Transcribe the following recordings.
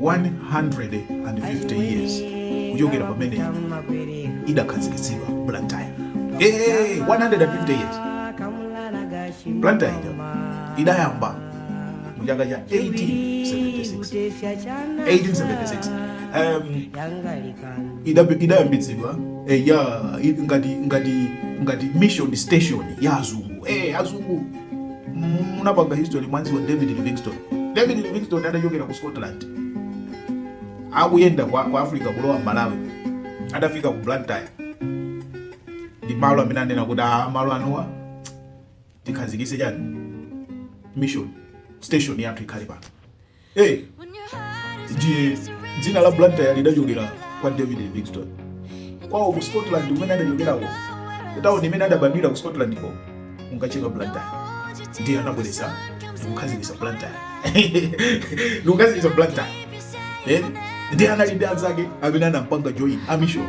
150 years kuchokera pamene idakhazikitsidwa Blantyre. Eh, 150 years. Blantyre idayamba mu chaka cha 1876. 1876. Um, idayambitsidwa eh, ya ngati ngati ngati mission station ya azungu eh, azungu munapanga history mwamdziwa david livingstone david livingstone adachokera ku scotland akuyenda kwa, kwa africa kulowa malawi adafika ku blantyre ndi malo amene anena kuti a malo anowa tikhazikise chani mission station yathu ikhale pano Hey, ndiye dzina la Blantyre lidachokera kwa David Livingstone. Kwawo ku Scotland kumene adachokerako, kutauni imene adabadwira ku Scotland ko, kunkatchedwa Blantyre. Ndiye anabweretsa ndikukhazikitsa Blantyre. Ndikukhazikitsa Blantyre. Eh? Ndiye anali ndi anzake amene anampanga join amishoni.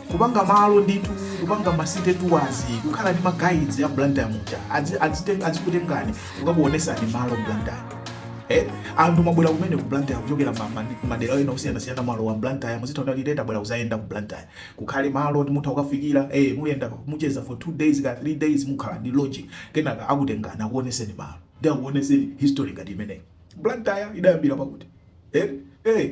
kupanga malo ndithu kupanga masite tours kukhala ndi maguides aBlantyre muja Adzi- adzite- adzikutengani kukakuonesani malo Blantyre Eh, anthu mabwera kumene ku Blantyre kuchokera ma- ma- madera ena osiyanasiyana malo wa Blantyre muzitha kuti ali tabwera kuzayenda ku Blantyre kukhale malo oti mutha kukafikira eh muyenda mucheza for two days ka three days mukhala ndi lodging kenaka akutengana akuoneseni malo ndi akuoneseni history ngati imeneyi Blantyre idayambira pakuti eh eh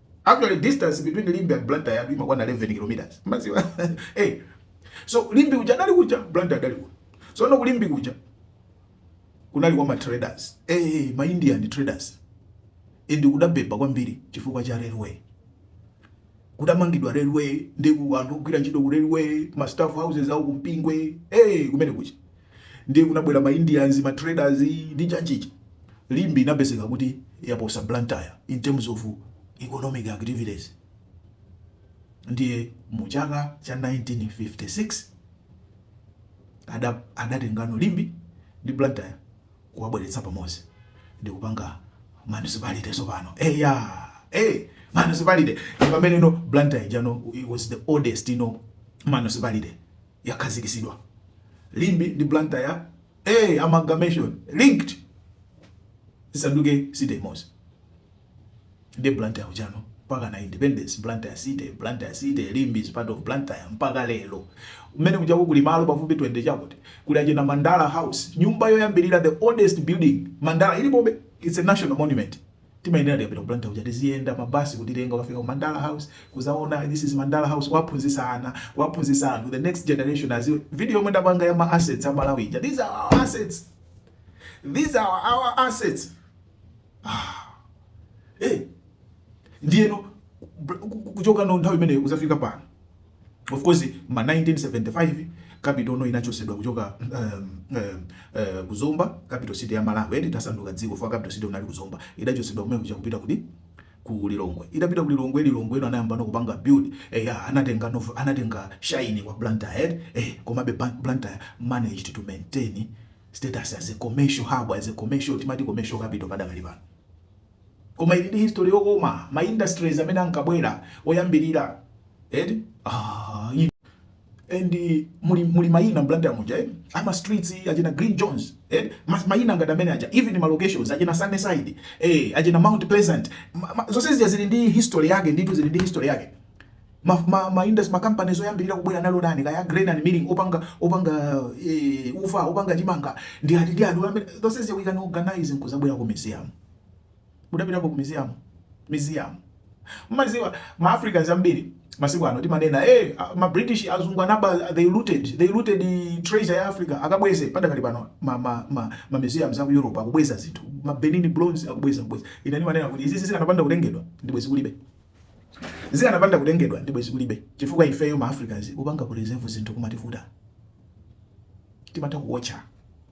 actually distance between limbe and blantyre yathu imakwana 11 km mukudziwa hey. so limbe uja adali kuja blantyre adali kuno tsono ku limbe kuja kunali kwa ma traders hey, eh, eh, ma indian traders ndi kudabeba kwambiri chifukwa cha railway kudamangidwa railway ndi anthu ogwira ntchito ku railway ma staff houses awo kumpingwe hey, eh, kumene kuja Ndiye kunabwera ma Indians, ma traders ndi chanichani. Limbe inapezeka kuti yaposa Blantyre in terms of economic activities. Ndiye mu chaka cha 1956 ada adatengano Limbe ndi Blantyre kuwabweretsa pamodzi ndikupanga municipality tsopano. Eya! Eh! Municipality! Ndipameneno Blantyre ijano it was the oldest no municipality. yakhazikitsidwa. Limbe ndi Blantyre ee amalgamation linked zisanduke city imodzi ndiye Blantyre ujano mpakana independence Blantyre city Blantyre city Limbe is part of Blantyre mpaka lero. Kumene kujako kuli malo pafupi 20 chakuti, kuli achina Mandala house nyumba yoyambirira the oldest building Mandala ilipobe it's a national monument Timayenera tikapita ku Blantyre kuja tiziyenda ma bus kutitenga kukafika ku Mandala house kuzaona this is Mandala house kuwaphunzisa ana kuwaphunzisa anthu the next generation aziwe video yomwe ndapanga ya ma assets a Malawi ija these are our assets these are our assets ah eh ndiyeno kuchoka no nthawi imeneyo kuzafika pano Of course mma 1975 capital no inachosedwa kuchoka um, um, uh, ku Zomba capital city ya Malawi eti tasanduka dziko fwa capital city unali ku Zomba idachosedwa kumene kuja kupita kuti ku Lilongwe idapita ku Lilongwe Lilongwe ino anayamba no kupanga build eh ya anatenga no anatenga shine kwa Blantyre eh komabe Blantyre managed to maintain status as a commercial hub as a commercial timati commercial capital padakali pano koma ili ndi history yokoma ma industries amene ankabwera oyambirira eti ah, inu. and muli muli maina Blantyre muja eh? ama streets achina Glyn Jones eh? Mas, maina ngati amene aja even ma locations achina Sunnyside eh, achina Mount Pleasant zonse zija zili ndi history yake ndithu zili ndi history yake Ma ma ma indus ma companies oyambirira kubwera anali ndani kaya a grain and milling opanga opanga ee ufa opanga chimanga ndi ati ndi ati oyambirira zonse zija we can organise nkuzabwera ku museum mudapitapo ku museum museum mmaziwa ma africans ambiri masiku ano timanena ee a- ma british azungu anaba they looted they looted treasure ya africa akabweze padakali pano ma ma ma, ma museums aku europe akubweza zinthu ma benin bronze akubweza kubweza ine ndimanena kuti izizi zikanapanda kutengedwa ndibwezi kulibe zikanapanda kutengedwa ndi bwezi kulibe chifukwa ifeyo ma africans kupanga preserve zinthu kumativuta timatha kuwatcha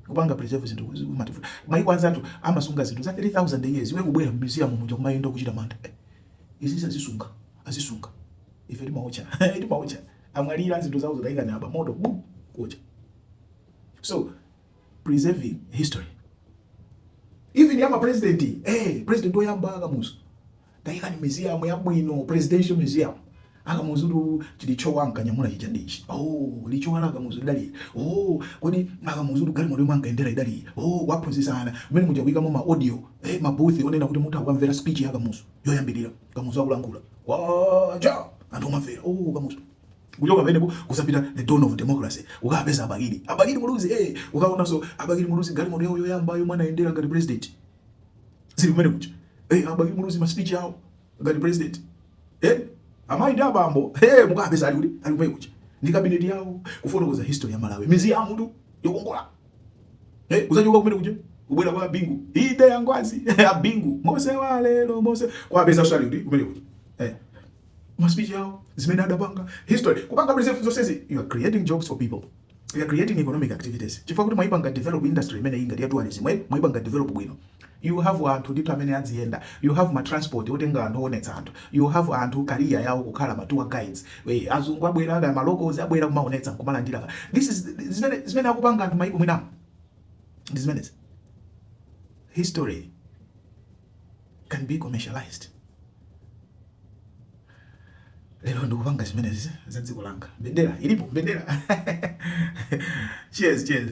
kupanga preserve zinthu kumativuta maiko anzathu amasunga zinthu za 3000 years iwe kubwera mu museum muja kumayenda kuchita mantha Eh, izi azisunga azisunga ife timawatcha timawatcha amwalira zinthu zawo taikani apa moto bu kuwatcha so preserving history even yama president eh president oyamba akamuzu Tayikani museum yabwino, Presidential Museum. Akamuzutu chilichowa ankanyamula chija ndi ichi. Oh, lichowa la Kamuzu lidali ili. Oh, kodi Akamuzutu galimoto yomwe ankayendera idali iyi. Oh, kuwaphunzitsa ana. Mmene muja kuyikamo ma audio, eh, ma booth onena kuti mutha kukamvera speech ya Kamuzu yoyambirira. Kamuzu akulankhula. Kwacha! Anthu kumamvera. Oh, Kamuzu. Kuchoka pamenepo kuzapita the dawn of democracy. Ukapeza Abakili. Abakili Muluzi, eh, ukaonanso Abakili Muluzi galimoto yawo yoyamba yomwe anayendera ngati president. zili kumene kuja hey, eh, abakili muluzi ma speech yao ngati president hey, eh, amayi ndi abambo hey, mukapeza ali kuti ali kumene kuja ndi cabinet yao kufotokoza history ya Malawi museumtu yokongola hey, eh, kuzachoka kumene kuja kubwera kwa bingu eede a ngwazi a bingu mose wa lero mose kuwapezanso ali kuti kumene kuja hey, ma speech yao zimene adapanga history kupanga preserve zosezi you are creating jobs for people You are creating economic activities. Chifukwa kuti mwaipanga develop industry imene ngati ya tourism, eh? mwaipanga develop bwino. You have anthu ndithu amene adziyenda. You have ma transport otenga anthu oonetsa anthu. You have anthu career yawo kukhala ma tour guides. We, azungu abwera kaya ma locals abwera kumaonetsa nkumalandira ka. This is zimene zimene akupanga anthu maiko mwinamu. Ndi zimenezi. History can be commercialized. Lero ndikupanga zimenezi za dziko langa. Mbendera ilipo, mbendera. Cheers, cheers.